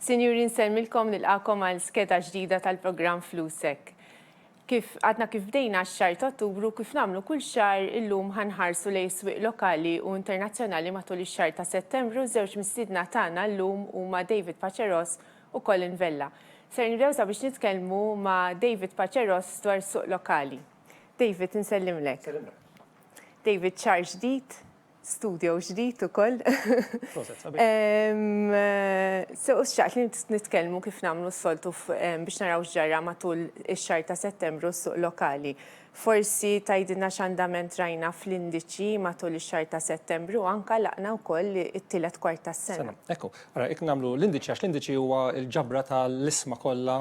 Sinjuri nsellmilkom nilqagħkom għal skeda ġdida tal-programm Flusek. Kif għadna kif bdejna x-xahar ta' Ottubru kif nagħmlu kull xahar illum ħanħarsu lejn is-swieq lokali u internazzjonali matul ix-xahar ta' Settembru żewġ mistiedna tagħna llum huma David Paceros u Colin Vella. Ser nibdew sabiex nitkellmu ma' David Paceros dwar is-suq lokali. David nsellimlek. Nsellimlek. David xahar ġdid, studio ġdid ukoll. So, xtaqt li nitkellmu kif nagħmlu s-soltu biex naraw x'ġarra matul ix-xahar ta' Settembru s-suq lokali. Forsi tgħidilna x'andament rajna fl-indiċi matul ix-xahar ta' Settembru u anke għalaqna wkoll it-tielet kwart tas-sena. Ekku, ara jekk nagħmlu l-indiċi għax l-indiċi huwa l-ġabra tal-isma kollha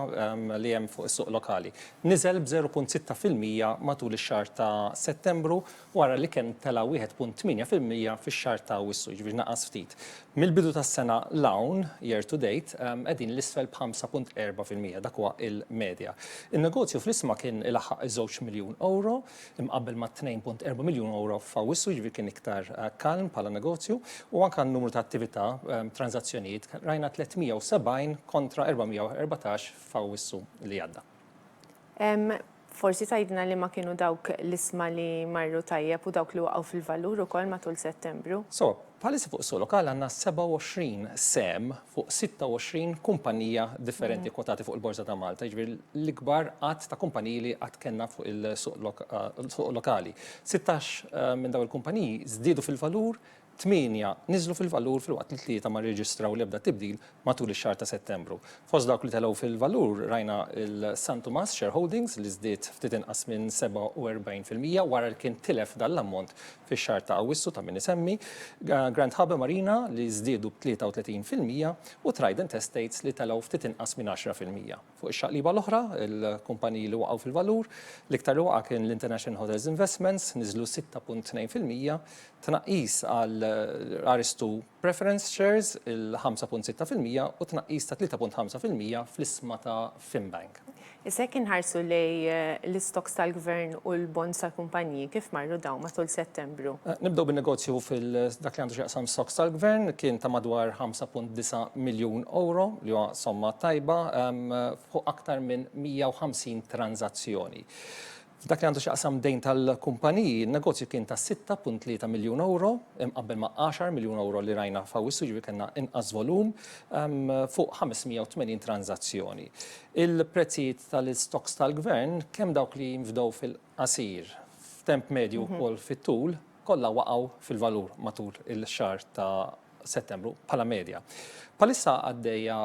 li hemm fuq is-suq lokali. Niżel b' 0.6 fil-mija matul ix-xahar ta' Settembru wara li kien tela' 1.8 fil-mija fix-xahar ta' Awwissu, jiġifieri naqas ftit. Mill-bidu tas-sena 'l hawn, year to date, qegħdin 'l isfel b'5.4 fil-mija, dak huwa l-medja. In-negozju fl-isma kien ilaħħaq iż-żewġ miljun ewro, imqabbel ma' 2.4 miljun ewro f'Awwissu, jiġifieri kien iktar kalm bħala negozju, u anke n-numru ta' attività, tranżazzjonijiet, rajna 370 kontra 414 f'Awwissu li għadda. Forsi tgħidilna liema kienu dawk l-isma li marru tajjeb u dawk li waqgħu fil-valur ukoll matul Settembru? Sewa, bħalissa fuq is-suq lokali għandna 27 sehem fuq 26 kumpanija differenti kwotati fuq il-Borża ta' Malta, jiġifieri l-ikbar għadd ta' kumpaniji li qatt kellna fuq il-suq lokali. Sittax minn dawn il-kumpaniji żdiedu fil-valur tmienja niżlu fil-valur filwaqt li tlieta ma rreġistraw l-ebda tibdil matul ix-xahar ta' Settembru. Fost dawk li telgħu fil-valur rajna l-San Tumas Share Holdings li żdied ftit inqas minn 47 fil-mija wara li kien tilef dan l-ammont fix-xahar ta' Awwissu ta' min isemmi, Grand Habe Marina li żdiedu b' 33 fil-mija u Trident Estates li telgħu ftit inqas minn 10 fil-mija. Fuq ix-xaqliba l-oħra, il-kumpaniji li waqgħu fil-valur, l-iktar li waqa' kien l-International Hotels Investments, niżlu 6.2 fil-mija, tnaqqis għal Aristu Preference Shares, il-5.6 fil-mija, u tnaqqis ta' 3.5 fil-mija fl-isma ta' Fimbank. Issa jekk inħarsu lejn l-istokks tal-Gvern u l-bonds tal-kumpaniji, kif marru dawn matul Settembru? Membru. Nibdew bin-negozju f'dak li għandu x'jaqsam is-SOx tal-Gvern, kien ta' madwar 5.9 miljun ewro, li huwa somma tajba, fuq aktar minn 150 tranżazzjoni. F'dak li għandu x'jaqsam dejn tal-kumpaniji, n-negozju kien ta' 6.3 miljun ewro, imqabbel ma' 10 miljun ewro li rajna f'Awwissu, jiġifieri kellna inqas volum, fuq 580 tranżazzjoni. Il-prezzijiet tal-SOx tal-Gvern, kemm dawk li jinfdew fil. qasir, f'temp medju wkoll fit-tul, kollha waqgħu fil-valur matul ix-xahar ta' Settembru bħala medja. Bħalissa għaddejja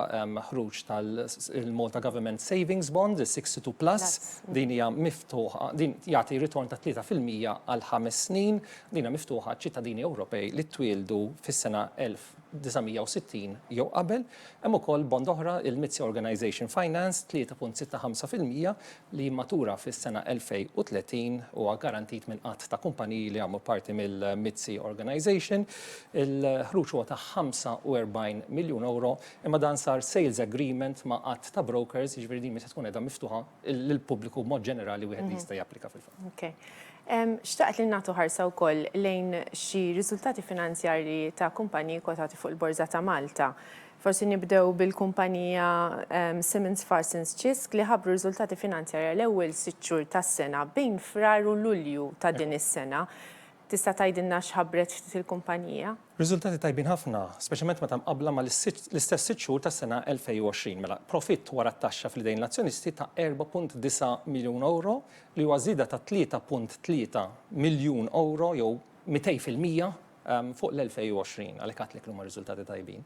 ħruġ tal-Malta Government Savings Bond, is-62 Plus, din hija miftuħa, din jagħti ritorn ta' 3 fil-mija għal ħames snin, din hija miftuħa għaċ-ċittadini Ewropej li twieldu fis-sena 1900. 1960 jew qabel, hemm ukoll bond oħra, il-MITSI Organization Finance, 3.65 fil-mija, li jimmatura fis-sena 2030, huwa garantit minn għadd ta' kumpaniji li jagħmlu parti mill-MITSI Organization. Il-ħruġ huwa ta' €45 miljun, imma dan sar sales agreement ma' għadd ta' brokers, jiġifieri din mhix se tkun qiegħda miftuħa lill-pubbliku b'mod ġenerali, wieħed li jista' japplika fil-fatt. Ok. Xtaqt li nagħtu ħarsa wkoll lejn xi riżultati finanzjarji ta' kumpaniji kwotati fuq il-Borża ta' Malta. Forsi nibdew bil-kumpanija Simmons Farsons Ċisk li ħabbru riżultati finanzjarji għal ewwel sitt xhur tas-sena bejn Frar u Lulju ta' din is-sena. Tista' tgħidilna x'ħabbret x'ftit il-kumpanija? Riżultati tajbin ħafna, speċjalment meta mqabbla ma' l-istess sitt xhur tas-sena 2020. Mela, profitt wara t-taxxa fl-idejn l-azzjonisti ta' €4.9 miljun li huwa żieda ta' €3.3 miljun jew 200 fil-mija fuq l-2020. Għalhekk għedtlek li huma riżultati tajbin.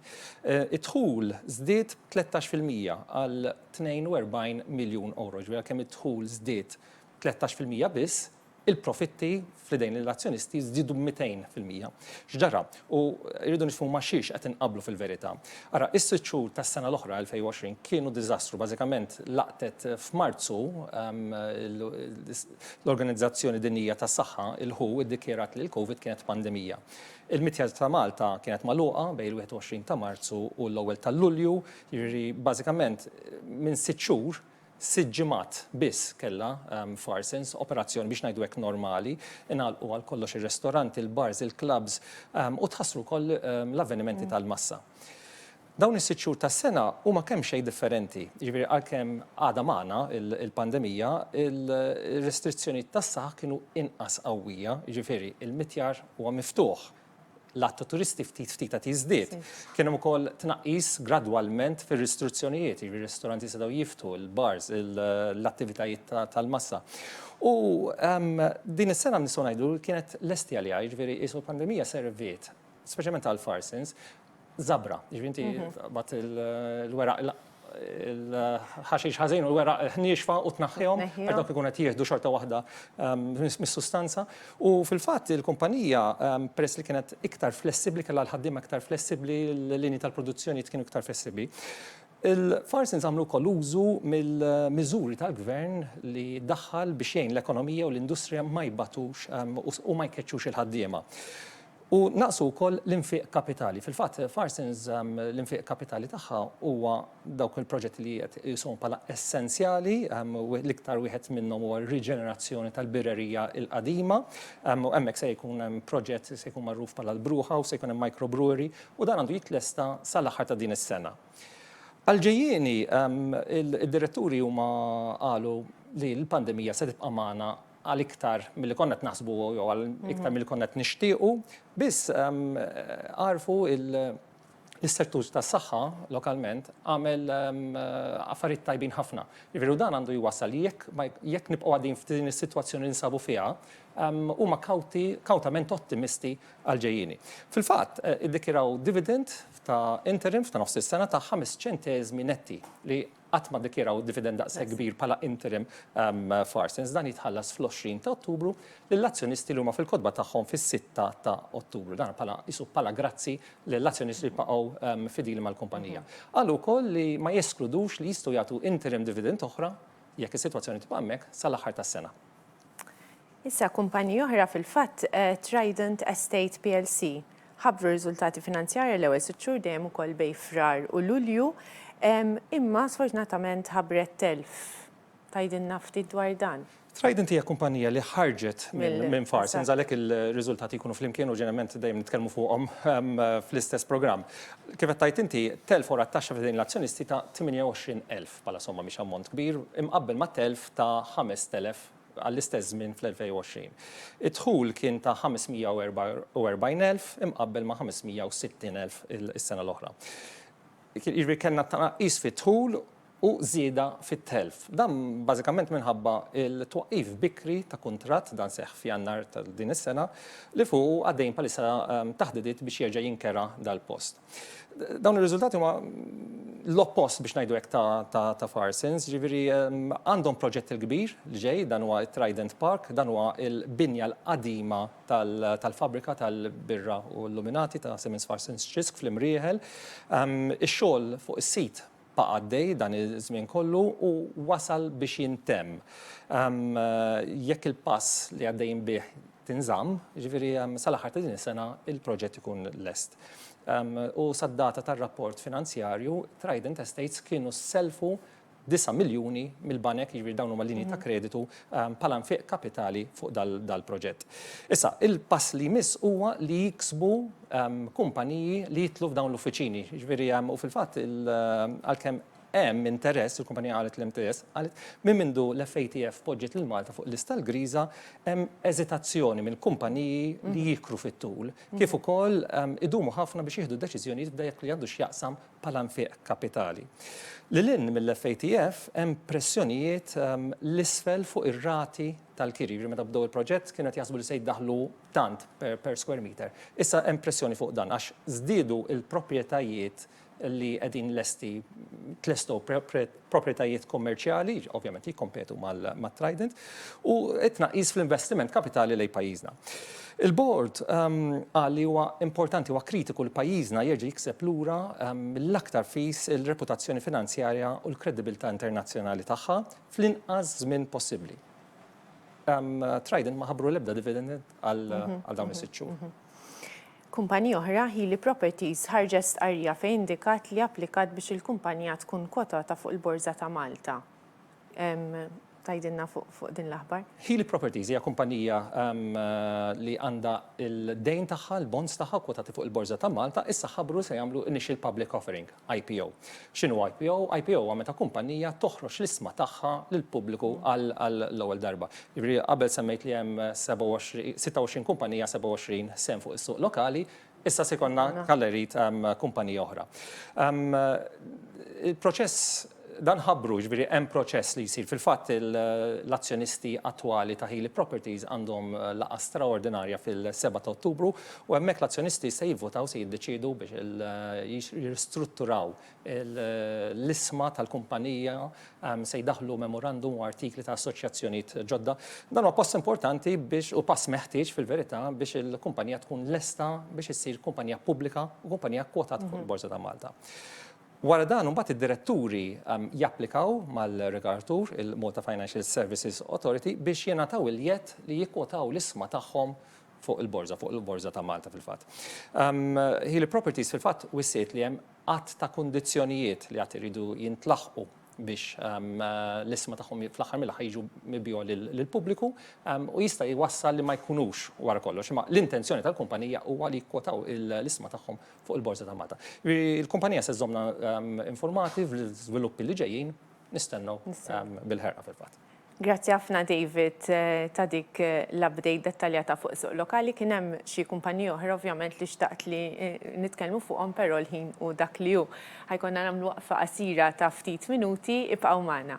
Id-dħul żdied b'13 fil-mija għal €42 miljun, jiġifieri għalkemm id-dħul żdied b' 13 fil-mija biss, Il-profitti fl-idejn lill-azzjonisti żdiedu b'200 fil-mija. X'ġara? U rridu nifhmu ma' xiex qed inqabblu fil-verità. Ara, is-sitt xhur tas-sena l-oħra, 2020, kienu diżastru. Bażikament laqtet f'Marzu l-Organizzazzjoni Dinjija tas-Saħħa, il-who, iddikjarat li l-Covid kienet pandemija. Il-mitja ta' Malta kienet magħluqa bejn il-21 ta' Marzu u l-ewwel ta' Lulju, jiġifieri bażikament minn sitt xhur Sitt ġimgħat biss kellha Farsons, operazzjoni biex ngħidu hekk normali, ingħalqu għal kollox ir-restoranti, il-bars, il-klabbs u tħassru wkoll l-avvenimenti tal-massa. Dawn is-sitt xhur tas-sena huma kemxejn differenti, jiġifieri għalkemm għadha magħna l-pandemija, ir-restrizzjonijiet tas-saħħa kienu inqas qawwija, jiġifieri l-mitjar huwa miftuħ, l-għadd ta' turisti ftit ftit qed jiżdied. Kien hemm ukoll tnaqqis gradwalment fir-ristruzzjonijiet, jiġifieri ristoranti setgħu jiftħu, il-bars, l-attivitajiet tal-massa. U din is-sena nistgħu ngħidu kienet lesti għaliha, jiġifieri qisu l-pandemija serviet, speċjalment għall-Farsins, żabra, jiġifieri inti taqbad il-weraq il-ħaxix ħażin u l-weraq ħnieġfa u tnaħħihom għax dawk ikun qed jieħdu xorta waħda mis-sustanza. U fil-fatt il-kumpanija peress li kienet iktar flessibbli kellha l-ħaddiema iktar flessibbli, l-linji tal-produzzjoni kienu iktar flessibbli. Il-Farsins għamlu wkoll użu mill-miżuri tal-gvern li daħħal biex jgħin l-ekonomija u l-industrija ma jbatux u ma jkeċċux il-ħaddiema. U naqsu wkoll l-infiq kapitali. Fil-fatt, Farsons l-infiq kapitali tagħha huwa dawk il-proġetti li qiegħed iqishom bħala essenzjali, l-iktar wieħed minnhom huwa r-riġenerazzjoni tal-birrerija l-qadima. Hemmhekk se jkun hemm proġett se jkun magħruf bħala l-Brewhouse, se jkun hemm microbrewery u dan għandu jitlesta sal-aħħar ta' din is-sena. Għall-ġejjieni, id-diretturi huma qalu li l-pandemija se tibqa' magħna għal iktar milli konna qed naħsbu jew għal iktar milli konna qed nixtiequ, biss għarfu l-istruttur tas-saħħa lokalment għamel affarijiet tajbin ħafna. Jiġifieri u dan għandu jwassal li jekk jekk nibqgħu għaddejjin f'din is-sitwazzjoni li ninsabu fiha, huma kawti kawtament ottimisti għall-ġejjieni. Fil-fatt, iddikjaraw dividend ta' interim ta' nofs is-sena ta' ħames ċenteżmi netti li qatt ma ddikjaraw dividend daqshekk kbir bħala interim f'Arsens. Dan jitħallas fl-20 ta' Ottubru lill-azzjonisti li huma fil-kotba tagħhom fis-sitta ta' Ottubru. Dan bħala qisu bħala grazzi lill-azzjonisti li baqgħu fidili mal-kumpanija. Qalu wkoll li ma jeskludux li jistgħu jagħtu interim dividend oħra, jekk is-sitwazzjoni tibqa' hemmhekk, sal-aħħar tas-sena. Issa kumpanija oħra fil-fatt, Trident Estate plc, ħabbru riżultati finanzjarji l-ewwel sitt xhur dejjem ukoll bejn Frar u Lulju, imma sfortunatament ħabbret telf. Tgħidilna ftit dwar dan? Trident hija kumpanija li ħarġet minn Farsons, għalhekk ir-riżultati jkunu flimkien u ġeneralment dejjem nitkellmu fuqhom fl-istess programm. Kif qed tgħid inti, telf wara t-taxxa f'idejn l-azzjonisti ta' 28,000. bħala somma mhix ammont kbir, imqabbel ma' telf ta' 5,000 għall-istess żmien fl-2020. Id-dħul kien ta' 544,000 imqabbel ma' 560,000 is-sena l-oħra. Jiġifieri kellna tnaqqis fid-dħul u żieda fit-telf. Dan bażikament minħabba l-twaqqif bikri ta' kuntratt, dan seħħ f'Jannar ta' din is-sena, li fuqu għaddejjin bħalissa taħdidiet biex jerġa' jinkera dal-post. Dawn ir-riżultati huma l-oppost biex ngħidu hekk ta' Farsons, ġifieri għandhom proġett il-kbir li ġej dan huwa Trident Park, dan huwa l-binja l-qadima tal-fabbrika tal-birra u l-luminati ta' Simmons Farsons Xisk fl-Imrieħel. Ix-xogħol fuq is-sit Baqa' għaddej dan iż-żmien kollu u wasal biex jintemm. Jekk il-pass li għaddejjin bih tinżamm, jiġifieri sal-aħħar ta' din is-sena l-proġett ikun lest. U sad-data tar-rapport finanzjarju, Trident Estates kienu sellfu disa' miljuni mill-banek, jiġifieri dawn huma linji ta' kreditu, bħala nfiq kapitali fuq dal-proġett. Issa, il-pass li jmiss huwa li jiksbu kumpaniji li jidħlu f'dawn l-uffiċini. Jiġifieri, u fil-fatt, għalkemm hemm interess, il-kumpanija qalet li hemm interess, qalet minn mindu l-FATF poġġiet lil Malta fuq il-lista l-griża, hemm eżitazzjoni mill-kumpaniji li jikru fit-tul, kif ukoll idumu ħafna biex jieħdu deċiżjonijiet f'dak li għandu x'jaqsam bħala nfiq kapitali. Lil hinn mill-FATF hemm pressjonijiet 'l isfel fuq ir-rati tal-kiri. Jiġifieri meta bdew il-proġett kienu qed jaħsbu li se jdaħħlu tant per square meter. Issa hemm pressjoni fuq dan għax żdiedu l-proprjetajiet li qegħdin lesti, tlestow proprjetajiet kummerċjali, ovvjament li jikkompetu mat-Trident, u t-tnaqqis fl-investiment kapitali lejn pajjiżna. Il-Bord qal li huwa importanti, huwa kritiku li pajjiżna jerġa' jikseb lura mill-aktar fis il-reputazzjoni finanzjarja u l-kredibilità internazzjonali tagħha fl-inqas żmien possibbli. Trident ma ħabbru l-ebda dividend għal dawn is-sitt xhur. Kumpanija oħra, Healy Properties, ħarġet stqarrija fejn indikat li applikat biex il-kumpanija tkun kotata fuq il-Borża ta' Malta. Tgħidilna fuq din l-aħbar? Healy Properties hija kumpanija li għandha l-dejn tagħha, l-bonds tagħha kkwotati fuq il-Borża ta' Malta, issa ħabbru li se jagħmlu initial public offering. IPO. X'inhu IPO? IPO huwa meta kumpannija toħroġ l-isma tagħha lill-pubbliku għall-ewwel darba. Jiġifieri qabel semmejt li hemm 27, 26 kumpannija, 27 sehem fuq is-suq lokali, issa se jkollna Kalla Jrid kumpanija oħra. Il-proċess Dan ħabbru, jiġifieri hemm proċess li jsir. Fil-fatt l-azzjonisti attwali ta' Healy Properties għandhom laqgħa straordinarja fil-seba' ta' Ottubru u hemmhekk l-azzjonisti se jivvutaw se jiddeċiedu biex jirristrutturaw l-isma tal-kumpanija, se jdaħħlu memorandum u artikli ta' assoċjazzjonijiet ġodda. Dan huwa pass importanti biex u pass meħtieġ fil-verità biex il-kumpanija tkun lesta biex issir kumpanija pubblika u kumpanija kkwotata fuq il-Borża ta' Malta. Wara dan imbagħad id-diretturi japplikaw mal-regoratur, il-Malta Financial Services Authority, biex jingħataw il-jedd li jikkwotaw l-isma tagħhom fuq il-borża, fuq il-borża ta' Malta fil-fatt. Healy Properties fil-fatt wissiet li hemm għadd ta' kundizzjonijiet li għad iridu jintlaħqu biex l-isma tagħhom fl-aħħar mill-aħħar jiġu mibjugħa lill-pubbliku u jista' jwassal li ma jkunux wara kollox, imma l-intenzjoni tal-kumpanija huwa li jikkwotaw l-isma tagħhom fuq il-Borża ta' Malta. Il-kumpanija se żżommna informati fl-iżviluppi li ġejjin, nistennew bil-ħerqa fil-fatt. Grazzi ħafna David ta' dik l-update dettaljata fuq is-suq lokali. Kien hemm xi kumpaniji oħra ovvjament li xtaqt li nitkellmu fuqhom però l-ħin hu dak li hu. Ħa jkollna nagħmlu waqfa qasira ta' ftit minuti, ibqgħu magħna.